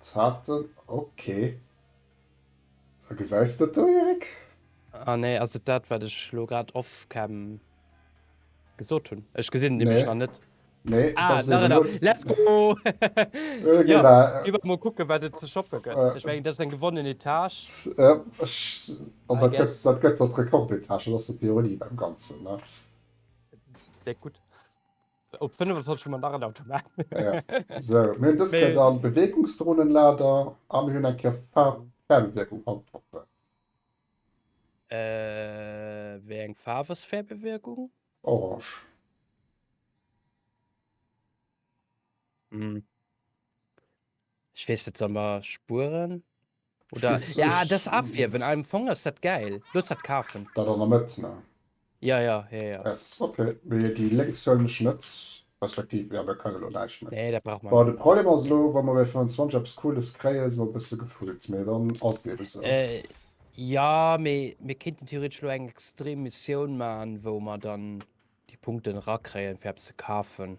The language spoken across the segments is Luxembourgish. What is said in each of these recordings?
Zarten, ok. A gesäis dat do, Eric? Ah nee, ass et dat wat ech lo grad off cam gesot hunn? Ech gesinn et nämlech nach net. Nee, ah, das da, da. Let's go! Äh, ja, da. Iwwer mo kucke wat et ze shoppe gëtt. Äh, ech meng dat eng gewonnen Etage. Äh, ech, an dat gëtt dat gëtt dat Rekordetage, dat ass de Theorie beim Ganzen, ne? Déck gutt. Op 25 hun mer nach en Automat. Ja. So, mir hunn dës Kéier dann Beweegungsdrohnenlader a mir hunn eng Kéier Faarf Fernwierkung Antworten. Äh, wéi eng Faarf ass Färbewierkung? Orange. Hm. Ech weess net, soll mer spueren? Oder Ech, ja, ech, dës Afierwen, am Fong ass dat gäil. Looss dat kafen. dat an der Mëtt, ne? Ja, ja, ja, ja. S, Ok, mee déi lénks huelen ech net, respektiv, jo, mir kënne lo näischt méi. Nee, dat brauch mer Bon, net. de Problem ass elo, wa mer bei 25 eppes Cooles kréien, si mer e bësse gefullt, mee dann ass et eebe sou. Äh, ja, mee mir kéinten theoretesch elo eng extrem Missioun maachen, wou mer dann déi Punkten erakréien, fir eppes ze kafen.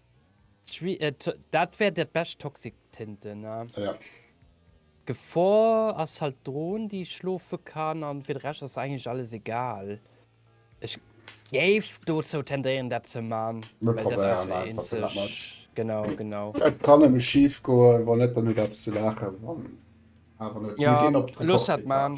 Dat wär dat bescht toxic Tinte ne? Ja. Gefor ass halt Drohn déi schlofe kann an fir de Recht ass eigentlich alles egal. Ech géif dozou tendéieren dat ze man. Genau genau. Et kann nëmme schief goen wann net dann hutt der eppes ze laachen. Wann awer net, da ginn op d'Reporter. Looss dat man.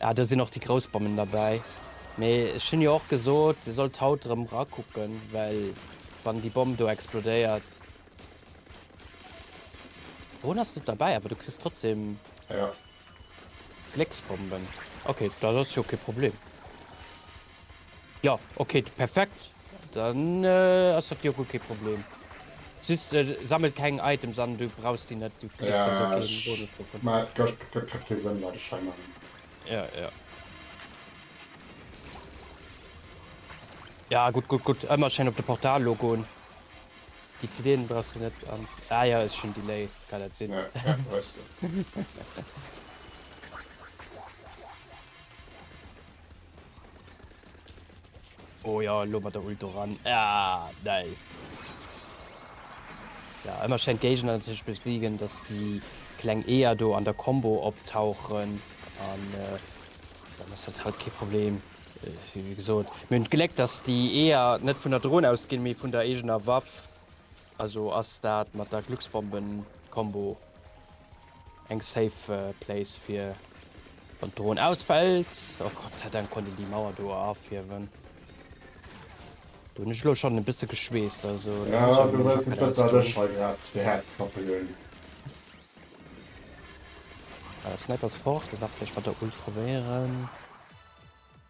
Ah, do sinn och déi grouss Bommen derbäi. Mee ech hunn jo och gesot, Dir sollt haut erëm erakucken, well wann déi Bomm do explodéiert. Drone ass net derbäi, awer du kriss trotzdem. Ja. Glécksbomben. Okay, da ass jo kee Problem. Jo ok perfekt dann ass dat jo guer kee Problem. Just sammel keng Items an, du brauchs déi net, du kriss jo sou keen Bonus dovun. Mä et gëtt grad kee Sënn dat ech hei maachen. Ja ja. Ja gutt gutt gutt, ëmmer schéin op de Portal lo goen. Déi CDen brauchs de net an, ah jo ass schonn Delay, kann dat sinn. Ja ja weess de. Oh ja, lo mat der Ult ran. Ah, nice. Ja, ëmmer schéin d'Géigner natierlech besiegen, dass déi kleng Eeër do an der Combo optauchen an äh, dann ass dat halt kee Problem. Äh, wie gesot, mir hunn d'Gléck, dass déi Eeër net vun der Dron ausginn, mee vun der eegener Waff. Also ass dat mat der Glucksbomben Combo eng safe Place fir wann d'Drohn ausfällt. Oh Gott sei Dank konnt een déi Mauer do afiewen. Du hun ech lo schon e bisse geschweesst also. Ja du hues mech net dat ech hei grad de Häerz kappe hunn. Sniper ass fort, dee dach vläicht mat der Ult probéieren.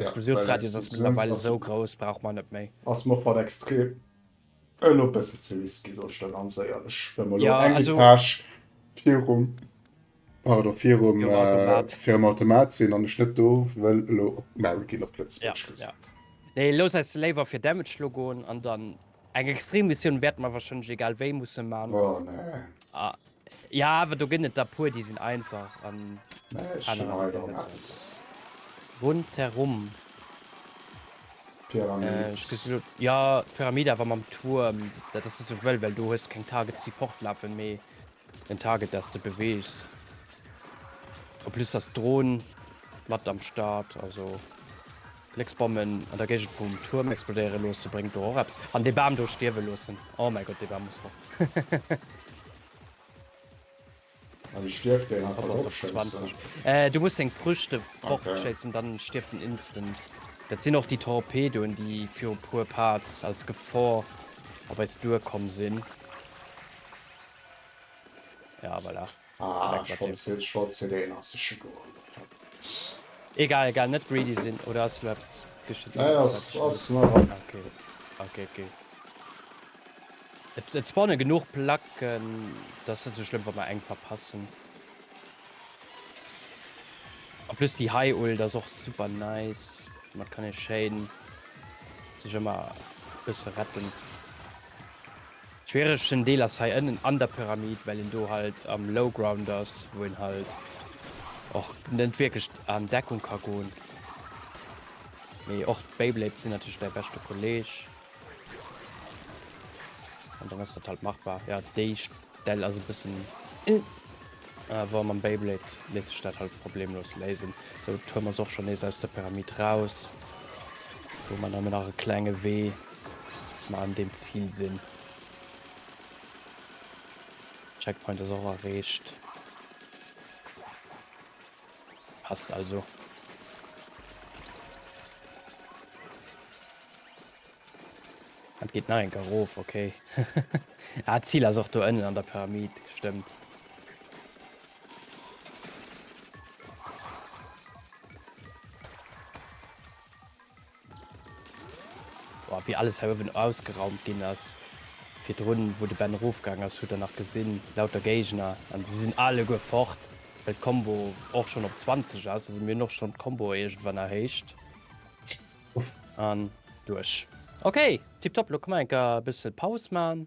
Diskussionsradius ass mëttlerweil esou grouss, brauch mer net méi. Ass mer och bal extrem elo bëssen ze risky soll ech der ganz éierlech well mer elo eng Etage virum, pardon, virum virum Automat sinn an ech net do wëll elo op d'Mauer ginn op Lëtzebuergesch gesot. Nee, looss eis léiwer fir Damage elo goen an dann Eng extrem Missioun wärt mer wahrscheinlech egal wéi mussen man. Oh nee. Ah, ja, awer do ginn et der puer, déi sinn einfach an nee, anerer déi sinn net so. Rundherum. Pyramid. Äh, ja, Pyramid awer mam Turm. Dat ass net sou wëll, well do hues keng Targets, déi fortlafen, mee. Den Target dats de beweegs. En plus ass d'Dron mat am Start, also Blécksbommen an der Géigend vum Tuerm explodéiere loosse bréngt do och eppes. An dee Bam do stierwe loossen. Oh mäi Gott, dee Bam muss fort. An e stierft wéi een einfach dropschéisst, oder? Du muss seng Früchte fortschéissen, dann stierft en instant. Dat sinn och déi Torpedoen, déi viru puer Parts als Gefor op eis duerkomm sinn. Ja, voilà. Ah, Weg mat deem. Schonn, schonn zu deem ass e scho goen. Egal, egal, net greedy sinn. Oder ass elo eppes geschitt? Nee, ass, ass nach an. Okay, okay, okay. Et, et spawne genuch Placken, dat ass net sou schlëmm, wa mer eng verpassen. En plus déi hei Ult ass och super nice. Domat kann ee schéin sech ëmmer e bësse retten. Schwieregsten Deel ass hei ënnen an der Pyramid, well een do halt am Low Ground ass, wou een halt och net wierklech an Deckung ka goen. Mee och d'Beyblades sinn natierlech däi beschte Kolleg. An dann ass dat halt machbar. Jo, déi Stell ass e bëssen ëh, awer mam Beyblade léisst sech dat halt problemlos léisen. Sou, d'Tuerm ass och schonn nees aus der Pyramid raus. Do huet mer nëmmen nach e klenge Wee. Dass mer an deem Zil sinn. Checkpoint ass och erreecht. Passt also. Dat geet nach enker erof, okay. ah, Zil ass och do ënnen an der Pyramid, stëmmt. Boah, wéi alles hei uewen ausgeraumt ginn ass. Virdrun, wou de Ben erofgaang ass, hutt der nach gesinn, lauter Géigner. An si sinn alleguer fort, well d'Combo och schonn op 20 ass. Also mir hunn och schonn d'Comboe iergendwann erhéicht. An duerch. Okay, tipptopp. Elo ka mer enker e bësse Paus maachen.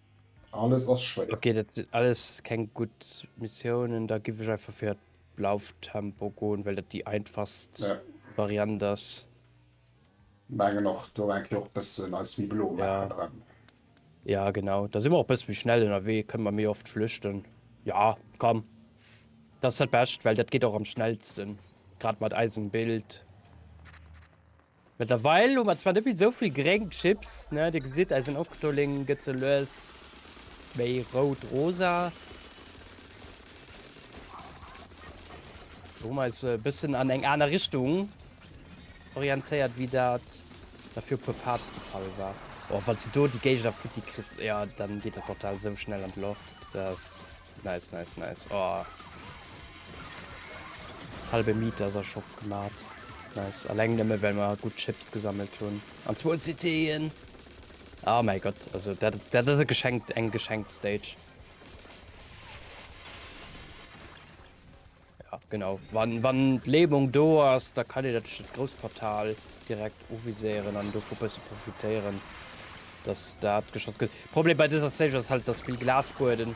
Alles ass schwéier. Okay, dat sinn alles keng gutt Missiounen. Da giff ech einfach fir d'Lauftempo goen, well dat déi einfachst Ja. Variant ass. Mengen och, do enke och bëssen eis méi blo Ja. maachen dran. Ja, genau. Da si mer och bësse méi schnell ënnerwee, kënne mer méi oft flüchten. Ja, komm. Dat ass dat Bescht, well dat geet och am schnellsten. Grad mat eisem Bild. Mëttlerweil hu mer zwar net méi esou vill gréng Chips, ne? Dir gesitt, eisen Octoling gëtt sou lues méi rout-rosa. Do hu mer eis e bëssen an eng aner Richtung orientéiert, wéi dat nach viru e puer Parts de Fall war. Oh, wann s de do déi Géigner futti kriss, jo, dann geet dat Portal esou schnell an d'Loft, dass. Nice, nice, nice. Oh. Halbe Meter ass Shop gemacht. Nice. Alleng nëmme well mer gut Chips gesammelt hunn. An zwou Cityen. Oh mein Gott, also dat, dat ass e geschenkt, eng geschenkt Stage. Ja, genau. Wann, wann d'Lämung do ass, da kann een natierlech dat grousst Portal direkt uviséieren an dovu bësse profitéieren, dass dat geschoss gëtt. Problem bei dëser Stage ass halt, et ass vill Glasbueden.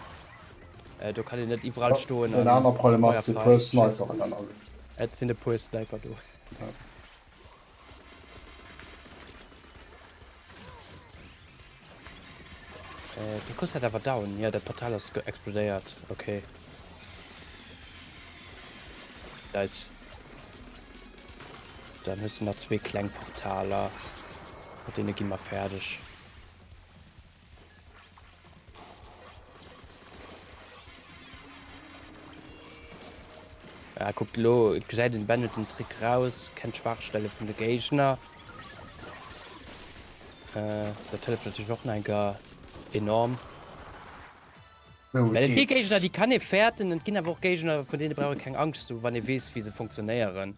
Äh, do kann een net iwwerall stoen an. Den aner Problem ass, et si e puer Sniperen an allem. Et sinn e puer Sniper do. Ja. Äh, du kriss dat awer down. Jo, dat Portal ass explodéiert. Okay. Nice. Dann hues du nach zwee kleng Portaler. Mat deene gi mer fäerdeg. Ah, guckt lo, et gesäit den Bandit den Trick raus, kennt Schwachstelle vun de Géigner. Äh, dat hëlleft natierlech och enker enorm. Well et gi Géigner, déi kann ee fäerten, an et ginn awer och Géigner, vun deene brauch ee keng Angscht ze hu wann ee weess, wéi se funktionéieren.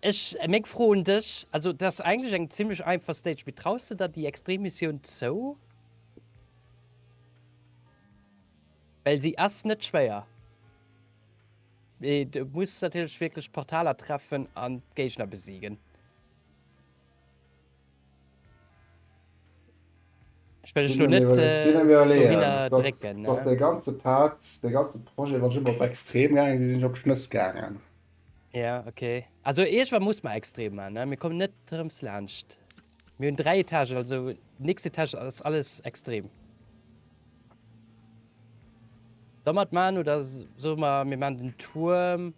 Ech, meng Fro un dech, also dat ass eigentlech eng zimlech einfach Stage, mee traus de der déi Extremmissioun zou? Well si ass net schwéier, mee du muss natierlech wierklech d'Portaler treffen an d'Géigner besiegen. Ech net de ganze Part de ganze Projekt wat op extrem sinn op Schnëss gaangen. Ja okay also Eech war muss ma extrem an mir kommen net rëms laanscht. Mi hunn 3 Etagen also nist Etage ass alles extrem. Soll mer et man oder soll mer mir man den Tuerm?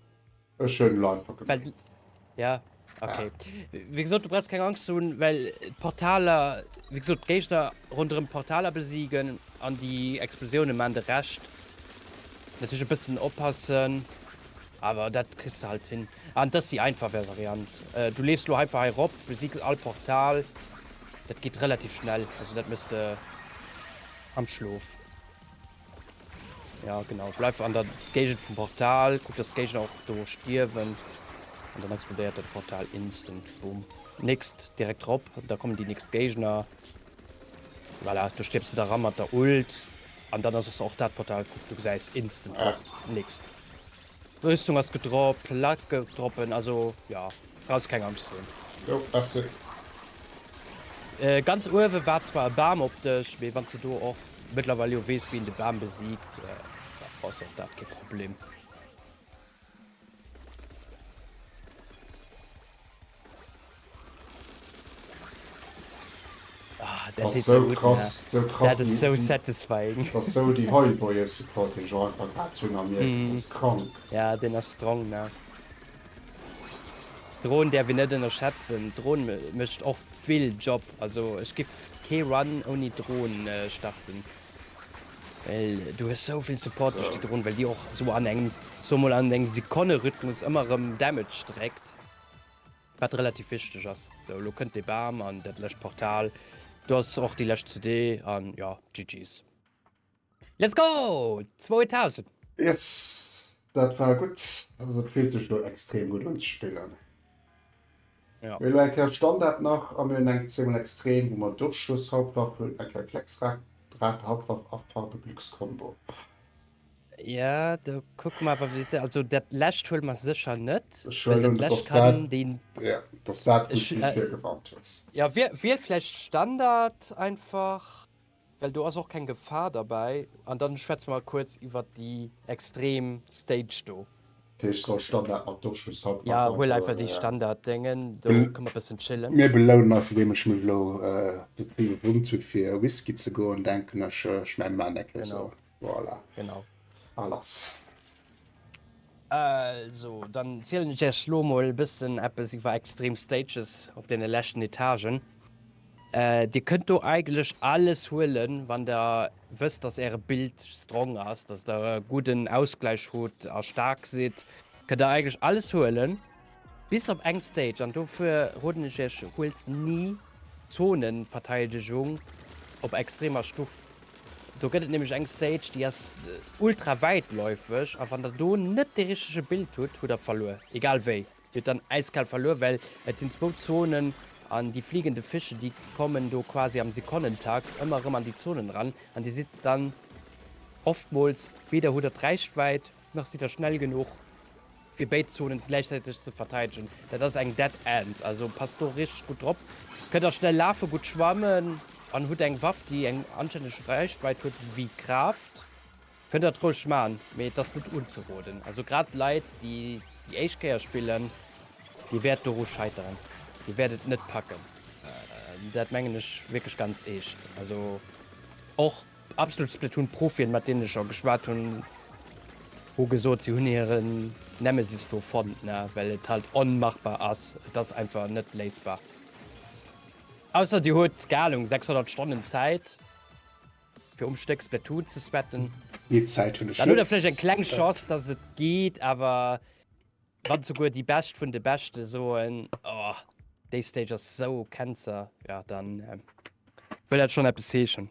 Ech hun Lifer gemeet. Ja, ok. Wéi gesot, du brauchst keng Angst ze hunn, well d'Portaler, wéi gesot, d'Géigner ronderëm d'Portaler besiegen an déi Explosioune maachen de Rescht. Natierlech e bëssen oppassen, awer dat kriss de halt hin. An dat ass déi einfach Variant. Du leefs elo einfach hei erop, besigs all Portal. Dat geet relativ schnell, also dat méchs de am Schlof. Ja genau, bleif an der Géigend vum Portal, kuck dass Géigner och do stierwen an dann explodéiert dat Portal instant. Boom. Nächst direkt drop, da kommen déi nächst Géigner. Voilà, du stirbst da ran mat der Ult an dann ass och dat Portal, kuck du gesäis instant fort. Nächst. Rüstung ass gedropp, Luck gouf droppen, also jo brauchs keng Angscht ze hunn. Jo merci. Ganz uewe war zwar e Bam op dech, mee wanns de do och mëttlerweil jo weess wien de Bam besiegt, da ass och dat kee Problem. Dat ass esou krass, esou krass, dat ass esou déi high boyer support deen ech och einfach grad hunn a mir, dat ass krank. Jo deen ass strong ne. Drohn däerf een net ënnerschätzen, Drohn mécht och vill Job, also ech giff kee Run ouni Drohn starten, well du hues esou vill Support duerch déi Drohn, well déi och esou an engem, soe mol an engem Sekonne Rhythmus ëmmer erëm Damage dréckt. Wat relativ wichteg ass. Sou, elo kënnt dee Bam an dat lescht Portal. Do ass och déi lescht CD an jo, GG's. Let's go! 2000. Yes! Dat war gutt. Also et fillt sech elo extrem gutt un ze spillen. Mir hunn elo eng Kéier Standard nach a mir hunn eng Zéimol Extrem, wou mer Duerchschlosshauptwaff hunn, eng Kéier Klecksdrahthauptwaff a Farbe-Glückscombo. Ja do kuck mer awer wéi also dat läscht huel mer sécher net. Ech huelen, datt dat, ja, datt dat gutt wéi virgewarnt hues. Ja wier, wier vläicht Standard einfach, well do ass och keng Gefahr derbäi. An dann schwätze mer kuerz iwwert déi extrem Stage do. Dat heescht soll Standard mat Duerchschluss haut nach. Ja huel einfach déi Standard Déngen do, ka mer bëssen chillen. Mir belounen eis andeem ech mech elo dozou gewunnt hu fir Whisky ze goen, denken ech. Ech mengen mer maan dat elo esou. Voilà. Genau. A lass. Also, dann zielen ech Iech lo mol e bëssen eppes iwwer extrem Stages op deene leschten Etagen. Äh, Dir kënnt do eigentlech alles huelen, wann der wësst, dass Äre Bild strong ass, dass der e gudden Ausgläich hutt a staark sidd, kënnt der eigentlech alles huelen. Bis op eng Stage, an dofir roden ech iech, huelt ni Zonenverteidegung op extremer Stuff. Do gëtt et nämlech eng Stage, déi ass ultra wäitläufeg, a wann der do net dee richtege Bild hutt, hutt der verluer. Egal wéi, dir hutt dann äiskal verluer, well et sinn zwou Zonen, an déi fliegende Fische, déi kommen do quasi am Sekonnentakt ëmmer erëm an déi Zonen eran, an dir sidd dann oftmools, weder hutt der d'Reichwäit, Nach sidd der schnell genuch fir béid Zonen gläichzäiteg ze verteidegen. Dat ass eng Dead End, also passt do richteg gutt drop. Kënnt der schnell lafen, gutt schwammen an hutt eng Waff déi eng anstänneg Reichweit huet wéi Kraaft, kënnt dat roueg man, mee et ass net unzeroden. Also grad Leit déi déi éischt Kéier spillen, dir wäert doru scheiteren, dir wäert et net packen. Dat mengen ech wierklech ganz eescht, also och. Absolut Splatoon Profien mat deenen ech scho geschwat hunn, hu gesot si hunn hiren Nemesis do fonnt, ne well et halt onmachbar ass, et ass einfach net léisbar. Ausser dir hutt, kei Ahnung, 600 Stonnen Zäit fir um Stéck Splatoon ze spetten, Méi Zäit hunn ech dann hutt der vläicht eng kleng net. Chance dass et geet, awer wann souguer déi Bescht vun de Beschte soen, oh, déi Stage ass esou Cancer, jo dann wëll dat schonn eppes heeschen.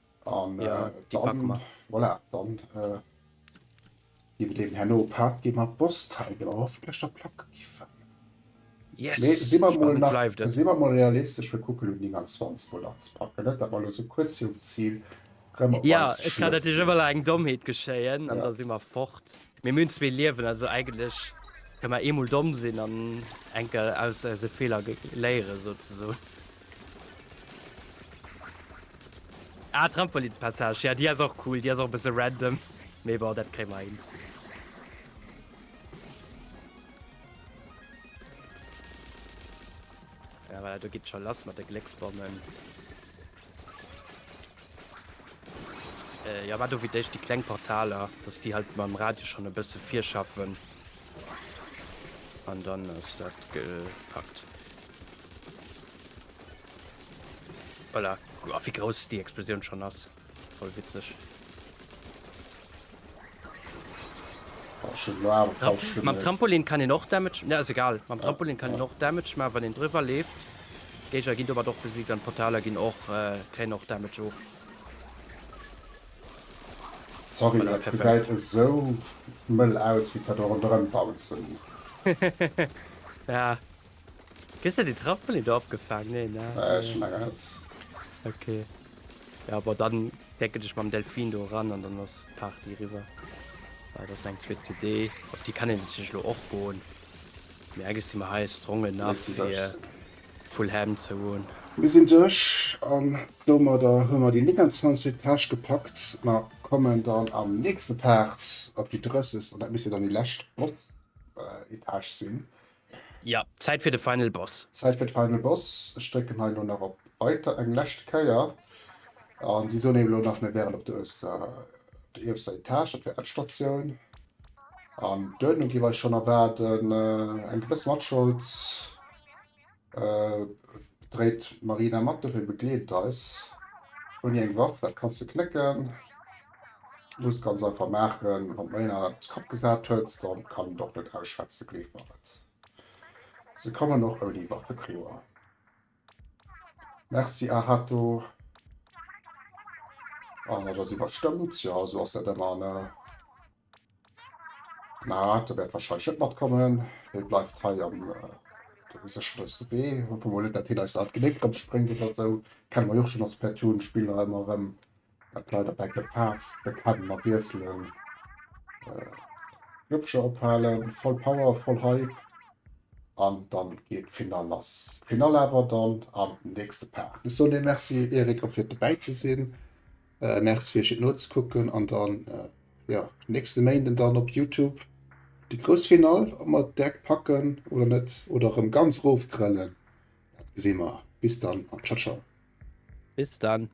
An, ja, äh, die dann, packen wir. Voilà, dann äh, gebe dem Herrn Opak gehen wir Boss-Teil, der hoffentlich der Plack gegeben. Yes, nee, sind wir mal, nach, sind wir mal realistisch, wir gucken um die ganz 20 Mal anzupacken, nicht? aber nur so kurz hier um Ziel. Ja, es kann natürlich immer eng Dommheet geschéien, an ja. da si mar fort. Mee mir hunn zwee Liewen, also eigentlech ka mer eemol domm sinn an eng Kéier aus eise Feeler léieren, souzesoen. Ah, d'Trampolinspassage, jo, déi ass och cool, déi ass och e bësse random, mee bon, dat kréie mer hin. Ja, voilà, do geet et scho lass mat de Glécksbommen. Äh, jo, wat do wéi d'éischt déi kleng Portaler, dass déi halt mam Radio schonn e bësse virschaffen. An dann ass dat gepackt. Voilà. A wéi grouss déi Explosioun schonn ass. Voll witzeg. Mam Trampolin kann een och Damage ja, ass egal. Mam Trampolin kann een och Damage man, wann een driwwer leeft. Géiger ginn domat och besiegt an Portaler ginn och äh, kréien och Damage of. Sorry, An der dat Treppe. gesäit esou mëll aus, wéi s dat do ronderëm bouncen. Ja. Kriss de déi Trampolin do opgefaang? Nee, ne? Äh, ech hun awer net. Ok. Ja, bon, dann decken ech mam Delfin do ran an dann ass d'Party eriwwer. Well dat ass eng zweet CD. Op déi kann een natierlech elo och goen. Mee eigentlech si mer hei strong Mir enough, si fir duerch. d'Full Ham ze hunn. Mir sinn duerch an domadder hu mer déi 29 Täsch gepackt. Mer kommen dann am nächste Part op déi 30. an dat misst jo dann déi lescht Boss, Etage sinn. Ja, Zäit fir de Final Boss! Zäit fir de Final Boss! Ech drécken hei elo nach op Weiter eng lescht Kéier. An si soen eem elo nach, mir wären op der ierfster Etage, dat wär Endstatioun. An duerno giff eis schonn erwaarden eng gewëss Matschold. Dréit d'Marina mat, dofir begleet et eis. Ouni eng Waff, dat kanns de knécken. Muss ganz einfach machen wann mei an de Kapp gesat huet dann kann en och net ausschwätzen gleef mer et se kommen och ouni Waffe kloer. Merci Ahato. Ah, dat ass iwwerstëmmt, jo esou ass dat ëmmer ne. Na, de wäert wahrscheinlech net matkommen. Dee bleift hei am dem sécherste Wee. Hoffen mol net, datt hien eis alt Geléck rëm spréngt oder esou. Kenne mer jo och schonn als Splatoon Spiller ëmmer erëm, datt d'Leit op Eck d'Faarf bekennen a wiesselen. Glubscher ophalen, voll Power, voll Hype an dann geet d'Finall lass. D'Finall awer dann am nächste Part. Ech soen dir Merci Eric och fir dobäi ze sinn. Merci fir iech et nozekucken an dann jo nächste Méinden dann op Youtube déi grouss Final, ob mer et deck packen oder net oder erëm ganz roftrëllen dat gesi mer. Bis dann an ciao ciao. Bis dann.